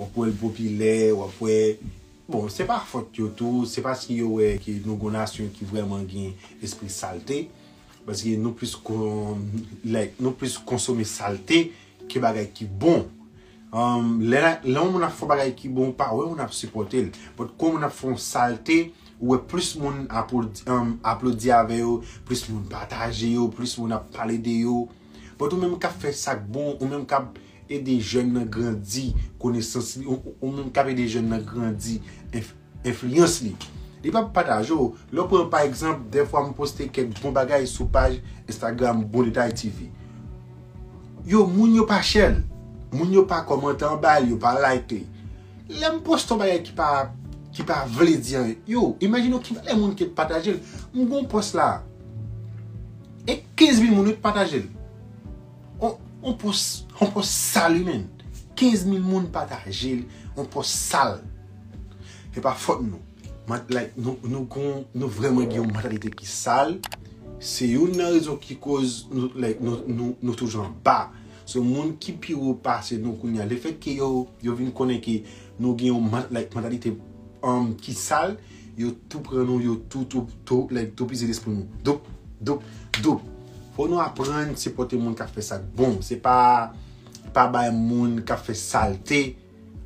Wap wèl popilè, wap wè, bon se pa fòt yo tou, se paske yo wè ke nou gon nasyon ki vrèman gen espri salte, paske nou plis kon, like, nou plis konsome salte ke bagay ki bon. Lè yon moun ap fè yon bagay ki bon ou pa wè moun ap sipòte l, but kon moun ap fè yon salte ou wè plis moun aplodi avè yo, plis moun pataje yo, plis moun ap pale de yo, but ou menm kap fè sak bon, ou menm kap Ede jèn nan grandi konesans li ou menm kap ede jèn nan grandi enfliyans li. Li pa pou pataje w. Lè w pran pa egzanp dèfwa m poste kèk bon bagay sou paj Instagram Bon Detay TV. Yo moun yo pa share l. Moun yo pa kòmante anba l, yo pa like li. Lè m poste yon bagay ki pa ki pa vle di anyen. Yo, imajine w ki valè moun ki pataje l. M gen yon pòs la e 15 mil moun wi ki pataje l. On pos On pos sal wi menn 15 mil moun pataje l On pos sal Se pa fòt nou Mant like nou Nou gon Nou vrèman gen yon mantalite ki sal Se youn nan rezon ki koz Nou like nou Nou nou toujou anba Sou moun ki pi wo pase nou kounye a Lefèt ke yo Yo vin konnen ke Nou gen yon mant like mantalite Humm ki sal Yo tou pran nou, yo tou tou tou like toupizi lespri nou. Doup, doup, doup. Fò nou aprann sipòte moun kap fè sak bon. Se pa pa bay moun kap fè salte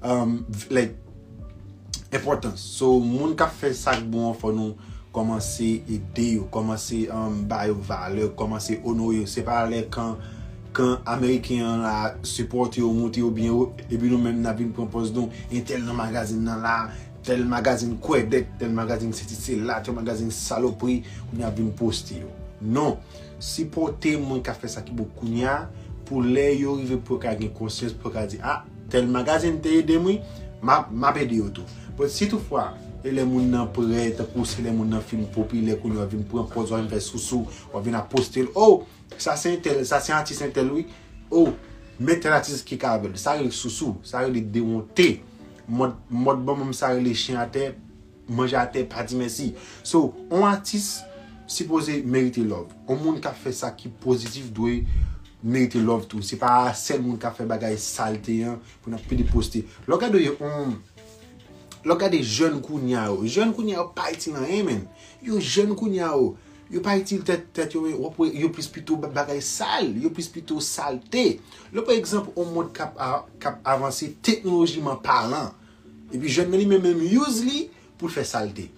um like enpòtans. So moun kap fè sak bon an fò nou kòmanse ede yo, kòmanse um ba yo valè, kòmanse onore yo. Se pa lè kan kan ameriken an la sipòte yo, moute yo byen wo epi nou menm nap vin pran pòz nou entèl nan magazin nan la. Tel magazine kwèdèk tel magazine sesi sela tel magazine salopri kounya ap vin poste yo non sipòte moun kap fè sa ki bon kounya pou lè yo rive pou yo ka gen konsyans pou yo ka di ah tel magazine te edem wi map ede yo tou but si tout fwa e lè moun nan prè tankou se lè moun nan fin popilè kounya wap vin pran pòz wap vin fè sousou wap vin ap postel oh sa se entèl sa se atis entèl wi oh men tel atis ki ka avèl sa rele sousou sa rele dewonte Mod mod bon moun sa rele chen atè manje atè pa di mèsi so on atis sipoze merite love on moun kap fè sa ki pozitif dwe merite love tou se pa sèl moun kap fè bagay salte an pou nap pede poste lè w gade yo on lè w gade jèn kounya yo jèn kounya yo pa itil anyen menn yo jèn kounya yo Yo pa itil tèt yo men wap wè yo plis pito bagay sal, yo plis pito salte. Lè pa egzanp yon mond kap avanse teknolojiman palan, epi jèn nan li menm menm use li pou l fè salte.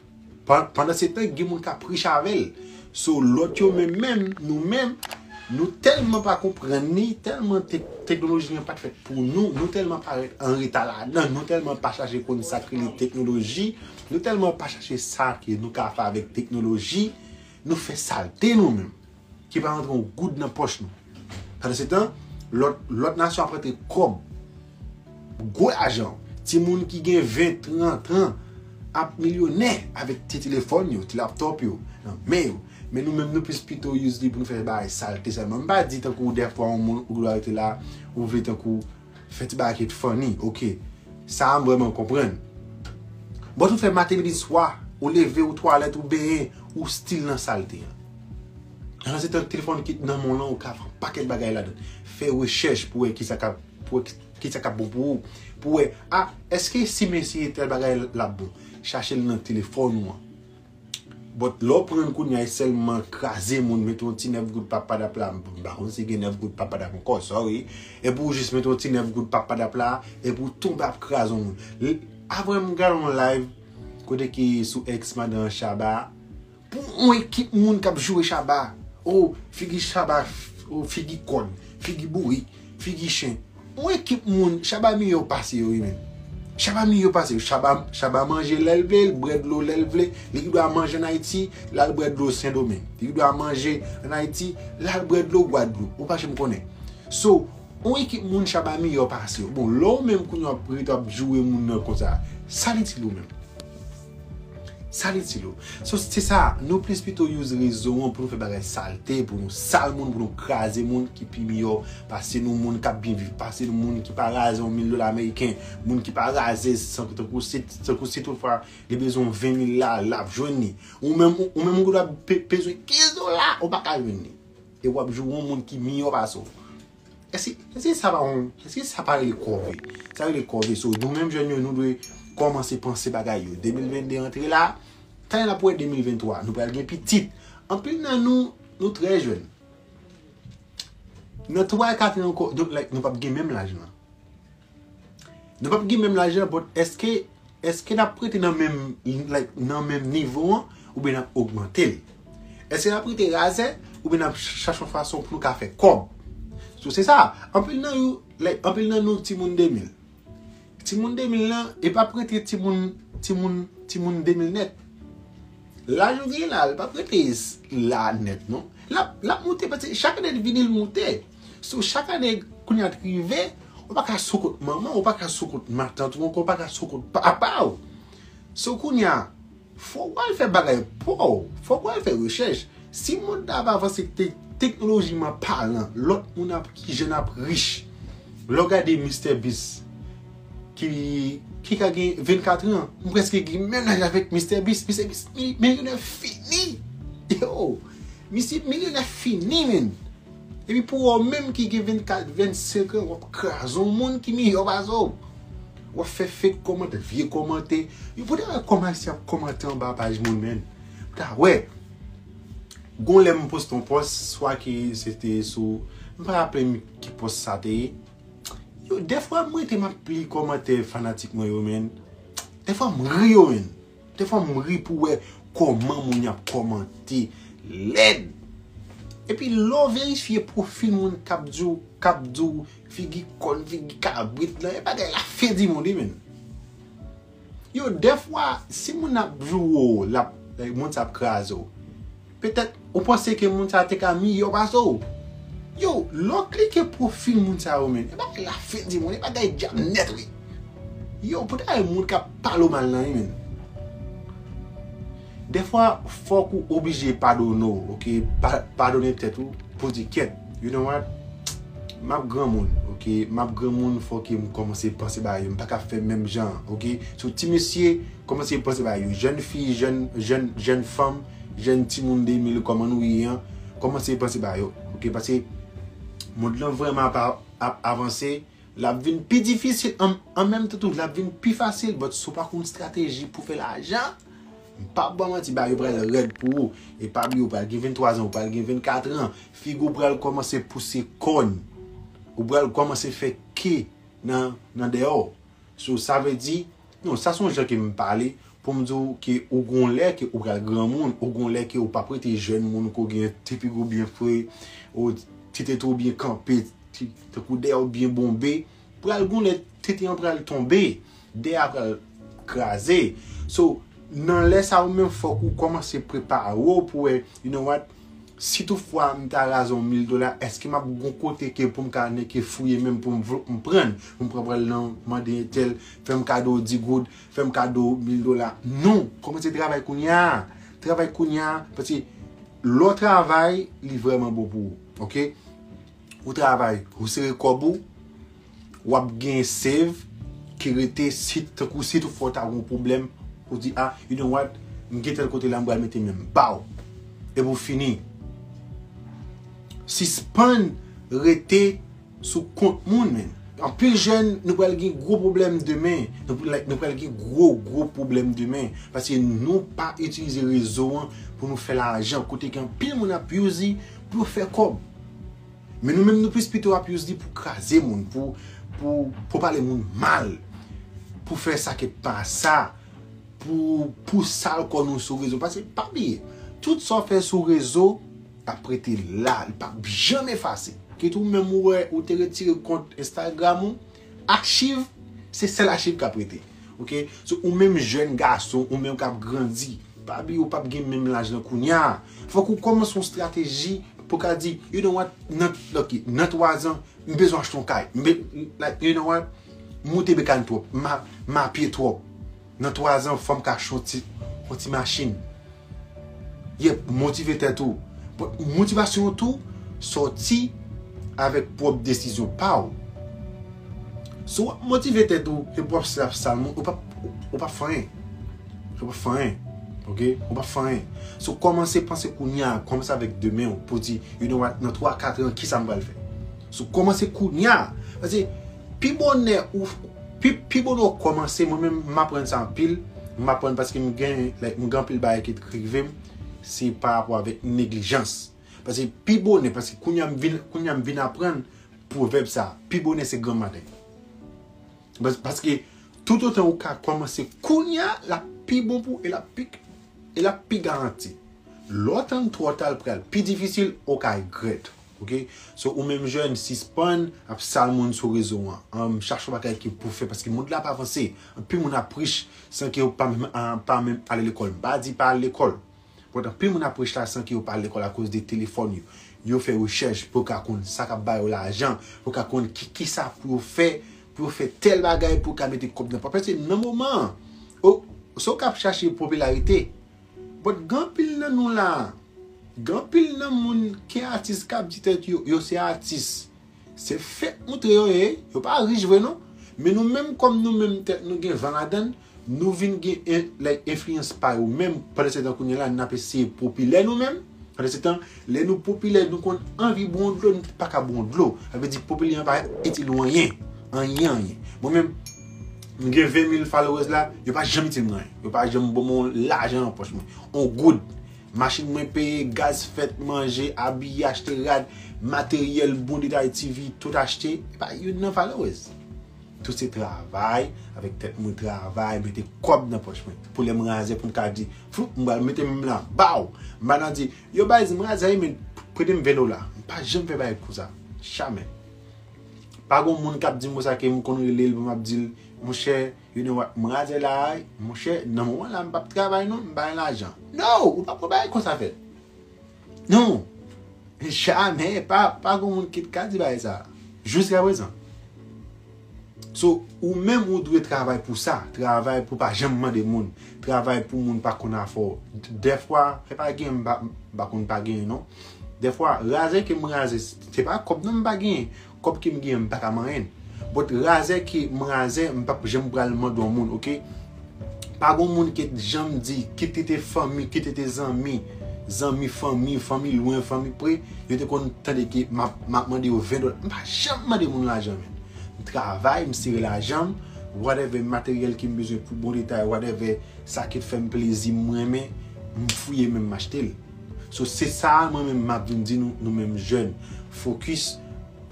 Pandan se tan gen moun kap rich avè l. So lòt yo menm menm nou menm nou tèlman pa konprann li, tèlman teknoloji an pat fèt pou nou, nou tèlman parèt anreta ladan, nou tèlman pa chache konn sak rele teknoloji. Nou tèlman pa chache sa ke nou ka fè avèk teknoloji, nou fè salte nou menm, ki pa rantre yon goud nan pòch nou. Pandansetan, lòt, lòt nasyon ap rantre kòb, gwo lajan. Timoun ki gen 20, 30 an ap milyonè avèk ti telefòn yo, ti laptòp yo nan men yo. Men nou menm nou plis pito use li pou nou fè bagay salte sèlman. M pa di tankou dèfwa yon moun ou dwe rete la, ou vle tankou Fè ti bagay ki t funny ok. Sa a m vrèman konprann. But ou t fè maten midi swa, ou leve ou twalèt ou benyen, ou still nan salte an. Jan se tan telefòn ki t nan men w lan ou ka fè yon pakèt bagay ladann. Fè rechèch pou wè kisa kap pou wè kisa kap bon pou ou. Pou wè ah eske si m eseye tèl bagay lap bon. Chache l nan telefòn ou an. But lè w pranl kounya e sèlman kraze moun mete yon ti 9 goud pap padap la m pa konn si gen 9 goud pap padap ankò sorry epi w jis mete yon ti 9 goud pap padap la epi w tonbe ap kraze yon moun aprè m gade yon live kote ki sou ex madan Shabba pou yon ekip moun kap joure Shabba oh figi Shabba oh figi kòn figi bourik figi chen Yon ekip moun Shabba miyò pase yo wi menn Shabba miyò pase yo Shabba Shabba manje lèl vle li bwè dlo lèl vle li ki dwa manje an ayiti lal bwè dlo sendomeng li ki dwa manje an ayiti lal bwè dlo gwadloup ou pa janm konnen so yon ekip moun Shabba miyò pase yo bon lè ou menm kounye wap ret wap joure moun nan konsa sa l itil ou menm. Sal itil ou. So se sa, nou plis pito use rezo an pou nou fè bagay salte, pou nou sal moun, pou nou kraze moun ki pi miyò pase nou, moun k ap byen viv pase nou, moun ki pa raze yon mil dola ameriken, moun ki pa raze san tankou si tankou si tout fwa li bezwen yon 20 mil la, l ap jwenn li. Ou menm ou menm ou gendwa bezwen 15 dola, ou pa ka jwenn li. E w ap jwenn yon moun ki miyò pase w. Eske sa pa yon, eske sa pa rele kòve? Sa rele kòve. So, nou menm jèn yo, nou dwe kòmanse panse bagay yo. 2022 antre la, tan n ap wè 2023, nou pral gen pitit. Anpil nan nou, nou trè jèn. Nan 3 e 4 an ankò, donk like nou p ap gen menm laj lan. Nou pap gen menm lajan but eske eske nap rete nan menm like nan menm nivo an oubyen nap ogmante l? Eske nap rete razè oubyen nap chache yon fason pou nou ka fè kòb? So se sa, anpil nan yo like anpil nan nou timoun 2000. Timoun 2000 lan e pap rete timoun timoun timoun 2000 nèt. Laj ou genyen la li pap rete la nèt non. Lap lap moute paske chak ane li vini li moute. So chak ane kounye a t rive, ou pa ka sou kont manman, ou pa ka sou kont matant ou ankò, ou pa ka sou kont papa w. So kounye a, fòk w al fè bagay pa w, fòk w al fè rechèch. Si mond la ap avanse teknolojiman palan, lòt moun ap, ki jèn ap rich. Lè w gade Mister Beast ki ki ka gen 24 an, m prèske gen menm laj avèk Mister Beast. Mister Beast milyonè fini. Misye milyonè fini menn. Epi pou wè w menm ki gen 24, 25 an wap kraze yon moun ki miyò pase w. Wap fè fake kòmantè, vye kòmantè. Yo pou ta wè kòman ayisyen ap kòmantè anba paj moun menn. Pou ta wè. Gon lè m poste yon pòs, swa ke se te sou, m pa raple m ki pòs sa te ye. Yo dèfwa m rete map li kòmantè fanatik mwen yo menn. Dèfwa m ri yo menn. Dè fwa m ri pou wè kòman moun yap kòmante lèd. Epi lè w verifye pwofil moun kap di w kap di w figi kòn figi kabrit lan e bagay la fen di mond wi menn. Yo dè fwa si moun ap jou w lap moun sa ap kraze w. Petèt ou panse ke moun sa te ka miyò pase w. Yo, lè w klike pwofil moun sa yo menn, e bagay la fen di moun, e bagay djab nèt wi. Yo, pou ta gen moun k ap pale w mal nan wi menn. Dèfwa fòk ou oblije padone w ok, padone tèt ou pou w di kèt, you know what, m ap granmoun ok, m ap granmoun fò ke m kòmanse panse bagay yo, m pa ka fè menm jan an ok. So ti mesye kòmanse panse bagay yo, jèn fi, jèn fanm. Jèn timoun 2000 kòman nou ye an kòmanse panse ba yo ok paske mond lan vrèman ap avanse lap vin pi difisil an menm tan tou lap vin pi fasil but si w pa konn strateji pou fè lajan m pap ba w manti bagay yo pral rèd pou ou e pa bliye ou pral gen 23 ans ou pral gen 24 ans figi w pral kòmanse pouse kòn ou pral kòmanse fè ke nan deyò So sa vle di, non sa son jan ke m pale pou m di w ke ou gon lè ke ou pral granmoun, ou gon lè ke ou pap rete jèn moun ke w gen ti figi w byen fre, ou ti tete w byen kanpe, ti tankou dèyè w byen bonbe, pral gon lè tete an pral tonbe, dèyè a pral kraze. So nan lè sa ou menm fòk ou kòmanse prepare w pou wè you know what. Si tout fwa m ta raze yon mil dola eske map gon kote ke poum ka neke fouye menm poum vlp m prann poum pran pral nan mande entèl fèm kado di goud fèm kado mil dola non kòmanse travay kounya travay kounya paske lè w travay li vrèman bon pou ou ok ou travay ou sere kòb ou. wap gen save ki rete si tankou si tou fwa ou ta gen yon pwoblèm ou di a you know what m gen tèl kote la m pral mete men m baww e pou fini sispann rete sou kont moun men anpil jèn nou pral gen gwo pwoblèm demen nou pral gen gwo gwo pwoblèm demen paske nou pa itilize rezo an pou nou fè lajan kote gen anpil moun ap use li pou yo fè kòb. Men nou menm nou plis pito ap use li pou kraze moun, pou pou pale moun mal, pou fè sa ki pa sa, pou pou sal kò nou sou rezo. Pase pa bliye, tout sa w fè sou rezo ap rete la, li pap janm efase. Kit ou menm ou wè ou te retire kont Instagram ou. Achiv se sèl achiv kap rete ok so ou menm jèn gason ou menm kap grandi pa bliye ou pap gen menm laj lan kounya fòk ou kòmanse yon strateji pou ka di you know what nan ok nan 3 zan m bezwen achte yon kay m be like you know what m moute bekany twòp m ma m mapye twòp nan 3 zan fòm ka achte yon ti yon ti machin. Yep, motive tèt ou. Bon, motivasyon an tou sòti avèk pwòp desizyon pa ou. Si wap motive tèt ou epi wap sèvi ak salmo, ou pap ou pap fè anyen. Ou pap fè anyen. Ok? Ou pap fè anyen. So kòmanse panse kounye a, kòmanse avèk demen ou pou di, you know what, nan 3, 4 an, kisa m pral fè? So kòmanse kounye a. Pase. Pi bonè ou pi bonè ou kòmanse mwen menm m aprann sa anpil m aprann paske m gen like m gen anpil bagay ki t k rive m se pa rapò avèk neglijans paske pi bonè paske kounye a m vin kounye a m vin aprann pwovèb sa pi bonè se granm maten paske toutotan ou ka kòmanse kounye a l ap pi bon pou e l ap pi e l ap pi garanti lè w tann twò ta l pral pi difisil ou ka regrèt. Ok so ou menm jèn sispann ap sal moun sou rezo an chache yon bagay ke pou fè paske mond la ap avanse anpil moun ap rich san ke yo pa menm ale lekòl m pa di pa al lekòl but anpil moun ap rich la san ke yo pa al lekòl akoz de telefòn yo yo fè rechèch pou yo ka konn sa kap bayo lajan pou yo ka konn kisa pou yo fè pou yo fè tèl bagay pou yo ka mete kòb nan pòch paske nan moman an oh si w kap chache popilarite. But gen anpil nan nou la a. Gen anpil nan moun ki atis kap di tèt yo yo se atis. Se fake moutre yo ye, yo pa rich vre non. Men nou menm kòm nou menm tèt nou gen van ladann, nou vin gen like enfliyans pa yo menm pandan se tan kounye la nap eseye popilè nou menm. Pandan se tan lè nou popilè nou konn anvi bwon dlo nou paka bwon dlo. Sa vle di popilè an pa itil ou anyen. Anyen anyen. Mwen menm M gen 20 mil followers la, yo pa janm itil mwen anyen. Yo pa janm ban mwen yon lajan nan pòch mwen. Yon goud. Machin mwen peye, gaz fèt, manje, abiye, achte rad, materyèl, bon detay TV, tout achte. E pa youn nan followers. Tout se travay, avèk tèt mwen travay, mete kòb nan pòch mwen. Pou lè m razè pou m ka di, floup, m pral mete men m lan, baw! M pa nan di, yo baz m razè wi men prete m 20 dola. M pa janm fè bagay konsa. Jamè. Pa gon moun kap di mo sa ke m konn rele l pou map di l monchè you know what m razè la a monchè nan moman la m pap travay non m bay lajan no ou pap wè bagay konsa fèt no jamè pa pa gon moun ki t ka di bagay sa jiskaprezan so ou menm ou dwe travay pou sa travay pou pa janm mande moun travay pou moun pa konn afè w dèfwa se pa gen m pa konn pa gen non dèfwa razè ke m razè Se pa kòb non m pa genyen. Kòb ke m genyen m pa ka manyen. But razè ke m razè m pap janm pral mande yon moun ok. Pa gon moun ke t janm di kit li te fanmi, kit li te zanmi, zanmi fanmi, fanmi lwen, fanmi pre, yo te konn tande ke m ap m ap mande yo 20 dola. M pa janm mande moun lajan men. M travay, m sere lajan m, whatever materyèl ke m bezwen pou bon detay, whatever sa ki t fè m plezi m renmen, m fouye men m achte l. So se sa mwen menm map vin di nou, nou menm jèn, fokis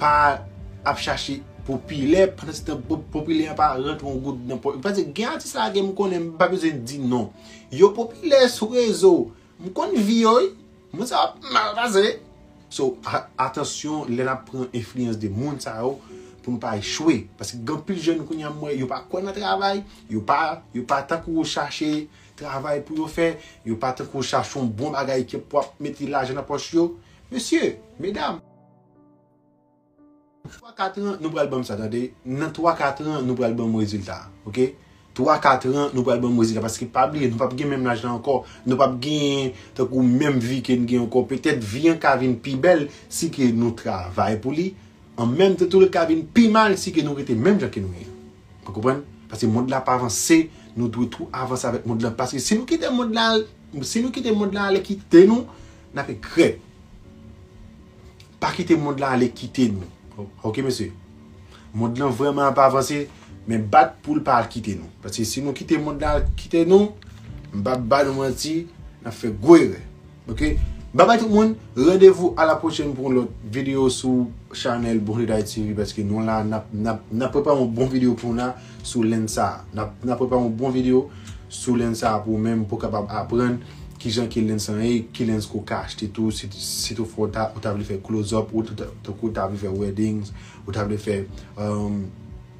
pa ap chache popilè pandan se tan popilè an pa rantre yon goud nan pòch. Paske gen atis la gen m konnen m pa bezwen di non. Yo popilè sou rezo, m konn vi yo wi, moun sa yo ap mal pase. So atansyon lè nap pran enfliyans de moun sa yo pou nou pa echwe. Paske gen anpil jèn kounya m wè yo pa kwè nan travay, yo pa yo pa tankou chache travay pou yo fè, yo pa tankou chachon bon bagay ke pou ap mete lajan nan pòch yo, mesye, medam. Nan twa katran nou pral banm sa tande, nan twa katran nou pral banm rezilta ok, twa katran nou pral banm rezilta paske pa bliye nou pap gen menm lajan ankò, nou pap genyen tankou menm vi ke nou gen ankò, petèt vi an ka vin pi bèl si ke nou travay pou li, an menm tan tou li ka vin pi mal si ke nou rete menm jan ke nou ye. Nou konprann? Paske mond la ap avanse, nou dwe tou avanse avèk mond la. Paske si nou kite mond la al, si nou kite mond la ale kite nou, n ap regrèt. Pa kite mond la ale kite nou. Ok mesye? Mond lan vrèman ap avanse, men bat pou l pa al kite nou. Paske si nou kite mond la al kite nou, m pa ba nou manti, n ap fè gwo erè. Ok Bye bye tout moun Rendez-vous à la prochaine pou yon lòt video sou Chanel Bonjou D'Haiti TV paske nou la nap nap nap prepare yon bon video pou nou la sou Land sa nap nap prepare yon bon video sou Land sa pou ou menm pou kapab aprann kijan ke Land sa ye ki Land ke ou ka achte tou si si tou fwa ou ta ou ta vle fè close up ou ta ou ta vle fè weddings ou ta vle fè umm